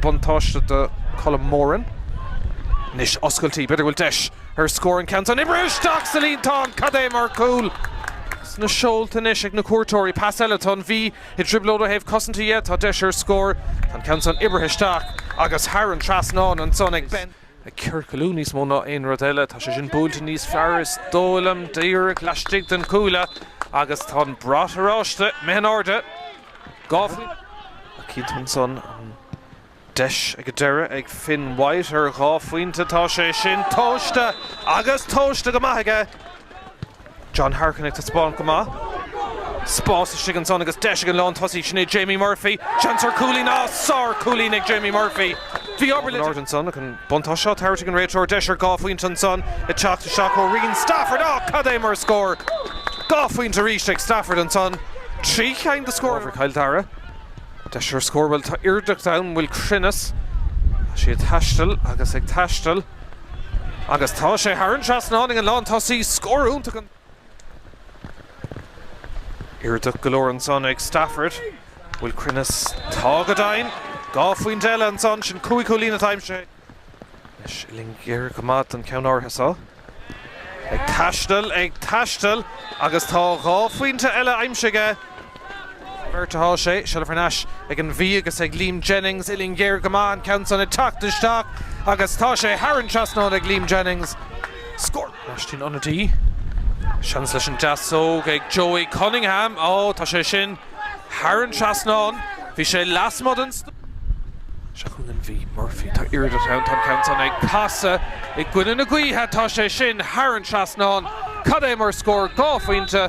buntáiste do Colm Moran. Anois oscailtí, b'fhéidir go bhfuil deis ar scór an ceann san. Oibrithe isteach sa líontán! Cad é mar chúl! Sna seolta anois ag na cuairteoirí. Pas eile. Tá an Mhí i dtrioblóid ó thaobh cosanta dhe. Tá deis ar scór. Tá an ceann san oibrithe isteach agus thar an trasnán ansan ag Ben. Ag ciorcalú níos mó ná aon rud eile. Tá sé sin buailte níos fearr is dóigh liom. Díreach laistigh den chuaille. Agus tá an brat oráiste imithe in airde. Dhá phointe atá cinnte ansan, an deis ag an deireadh ag Finn White ar dhá phointe, tá sé sin tomhaiste agus tomhaiste go maith aige! John Harkin ag taispeáint go maith. Spás istigh ansan agus deis ag an lántosaí sin é Jamie Murphy, seans ar chúilín, á, sár-chúilín ag Jamie Murphy! Bhí obair le déanamh ansan ach an buntáiste á thabhairt ag an réiteoir, deis ar dhá phointe ansan ag teacht isteach ó Rian Stafford, á, cad é mar scór! Dhá phointe arís ag Stafford ansan, trí cheann de scóranna ábhar Chill Dara. Deis ar scór, bhuel tá aoirdeacht ann, bhfuil cruinneas, tá sí ag taisteal agus ag taisteal agus tá sé thar an trasnán ag an lántosaí, scór iontach an. Aoirdeacht go leor ansan ag Stafford. Bhfuil cruinneas. Tá go deimhin! Dhá phointe eile ansan, sin cúig chúilín atá aimsithe is uillinn ghéar go maith don cheann áirithe seo. Ag taisteal, ag taisteal agus tá dhá phointe eile aimsithe aige! Beirt atá sé, seilbh thar n-ais ag an Mhí agus ag Liam Jennings uillinn ghéar go maith, an ceann san ag teacht isteach agus tá sé thar an trasnán ag Liam Jennings. Scór! Lóistín ionadaí. Seans leis an deasóg ag Joey Cunningham. Ó, tá sé sin thar an trasnán. Bhí sé lasmuigh den. Seo chugainn an Mhí. Murphy. Tá aoirdeacht ann, tá an ceann san ag casadh i gcoinne na gaoithe. Tá sé sin thar an trasnán. Cad é mar scór! Dhá phointe.